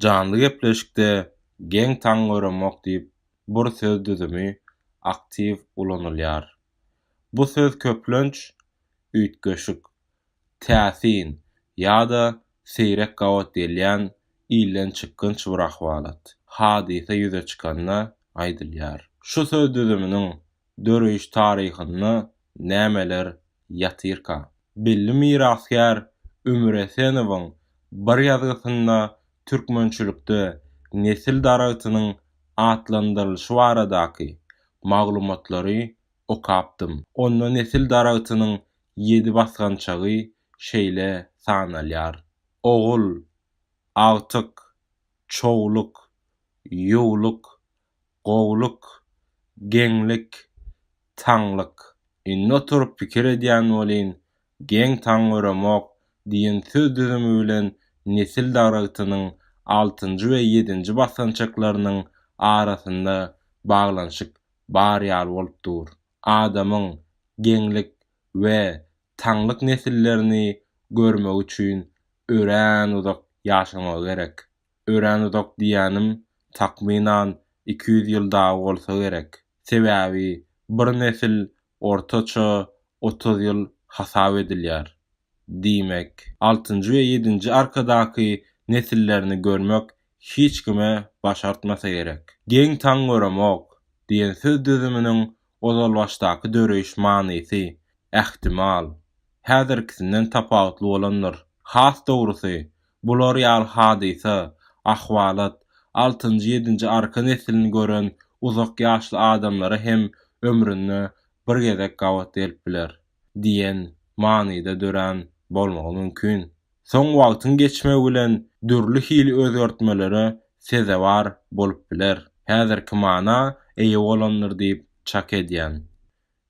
Janly gepleşikde geň taň göremok diýip bur söz düzümi aktiw ulanylýar. Bu söz köplenç üýtgeşik, täsin ýa-da seýrek gabat gelýän ilden çykgynç bir ahwalat, hadysa ýüze çykanda aýdylýar. Şu söz düzüminiň döreýiş taryhynda nämeler ýatyrka. Belli mirasgär Ömür Esenowyň bir ýazgysynda türkmençilikde nesil daragtynyň atlandyrylyşy baradaky maglumatlary okapdym. Onda nesil daragtynyň ýedi basgançagy şeýle sanalýar, Ogul, Agtyk, Çowluk, Ýuwluk, Gowulyk, geňlik, taňlyk. Indi oturyp pikir edýän welin, geň taň göremok diýen söz düzümi bilen nesil daragtynyň altynjy we ýedinji basgançaklarynyň arasynda baglanyşyk bar ýaly bolup dur. Adamyň geňlik we taňlyk nesillerini görmegi üçin örän uzak ýaşamagy gerek. öränuzak diýýänim takmynan iki ýüz ýyl dagy bolsa gerek. Sebäbi bir nesil ortaça otuz ýyl hasap edilýär. Diýmek, altynjy we ýedinji arkadaky nesillerini görmek hiç kime başartmasa gerek. Geň taň göremok diýen söz düzüminiň ozalbaşdaky döreýiş manysy, ähtimal, häzirkisinden tapawutly bolandyr. Has dogrusy, Bular ýaly hadysa, ahwalat, altynjy-ýedinji arka neslini gören uzak ýaşly adamlara hem ömründe bir gezek gabat gelip biler diýen manyda dörän bolmagy mümkin. Soň wagtyň geçmegi bilen dürli hili özgertmelere sezewar bolup biler. Häzirki mana eýe bolandyr diýip çak edýän.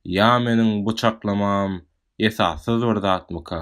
Ýa meniň bu çaklamam esassyz bir zatmyka?